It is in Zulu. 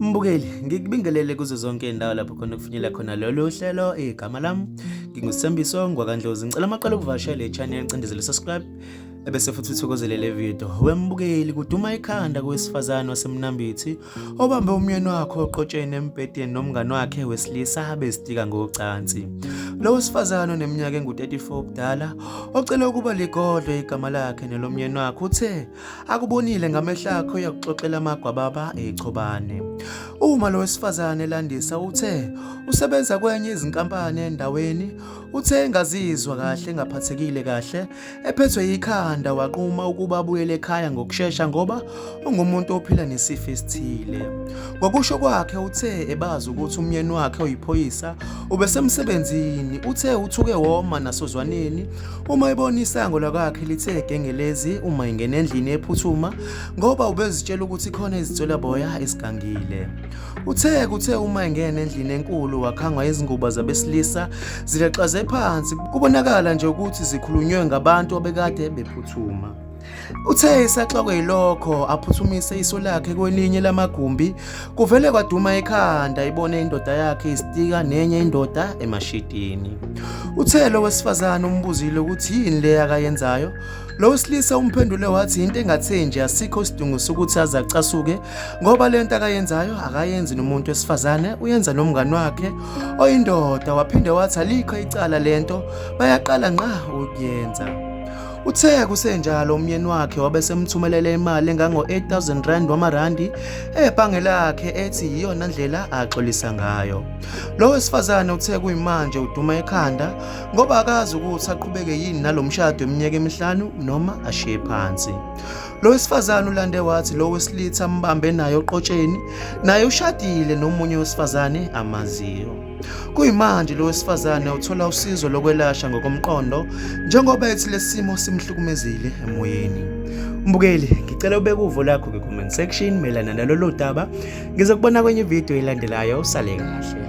Mbukeli, ngikubingelele kuzo zonke indawo lapho khona kufinyela khona lolu hlelo igama lami ngingusembiso ngwakandlozi ngicela amaqala ukuvashela i-channel cindezele subscribe ebese futhi uthokozele le video wembukeli kuduma ikhanda kowesifazane wasemnambithi obambe umyeni wakhe oqotsheni embhedeni nomngane wakhe wesilisa bezitika ngocansi. Lo wesifazane oneminyaka engu-34 ubudala ocele ukuba ligodlwe igama lakhe nelomyeni wakhe uthe akubonile ngamehlo akhe uyakuxoxela amagwababa echobane. Uma lo wesifazane elandisa uthe usebenza kwenye izinkampani endaweni uthe engazizwa kahle engaphathekile kahle Ephethwe yikhanda waquma ukuba abuyele ekhaya ngokushesha ngoba ungumuntu ophila nesifo esithile. Ngokusho kwakhe uthe ebazi ukuthi umyeni wakhe oyiphoyisa ubesemsebenzini uthe uthuke woma nasozwaneni uma ebona isango lakwakhe lithe gengelezi uma ingena endlini ephuthuma ngoba ubezitshela ukuthi khona izinswelaboya esigangile. Uthe kuthe uma engena endlini enkulu wakhangwa izingubo zabesilisa zilaxaze phansi kubonakala nje ukuthi zikhulunywe ngabantu abekade bephuthuma. Uthe isaxakwe yilokho aphuthumise iso lakhe kwelinye lamagumbi kuvele kwaduma ekhanda ibone indoda yakhe isitika nenye indoda emashitini. Uthe lo wesifazane umbuzile ukuthi yini le akayenzayo Lo wesilisa umphendule wathi into engatheni nje asikho isidingo sokuthi aze acasuke ngoba le nto akayenzayo akayenzi nomuntu wesifazane uyenza nomngani wakhe oyindoda waphinde wathi alikho icala le nto bayaqala nqa ukuyenza. Uthe kusenjalo umyeni wakhe wabe semthumelela imali engango-8000 rand wamarandi ebhange lakhe ethi yiyona ndlela axolisa ngayo. Lo wesifazane uthe kuyimanje uduma ekhanda ngoba akazi ukuthi aqhubeke yini nalomshado eminyaka emihlanu noma ashiye phansi lo wesifazane ulande wathi lo wesilitha ambambe naye oqotsheni naye ushadile nomunye wesifazane amaziyo kuyimanje lo wesifazane uthola usizo lokwelashwa ngokomqondo njengoba ethi lesimo simhlukumezile emoyeni mbukeli ngicela ubeke uvo lakho kwi-comment section mayelana nalolu daba Ngizokubona kwenye video elandelayo usale kahle.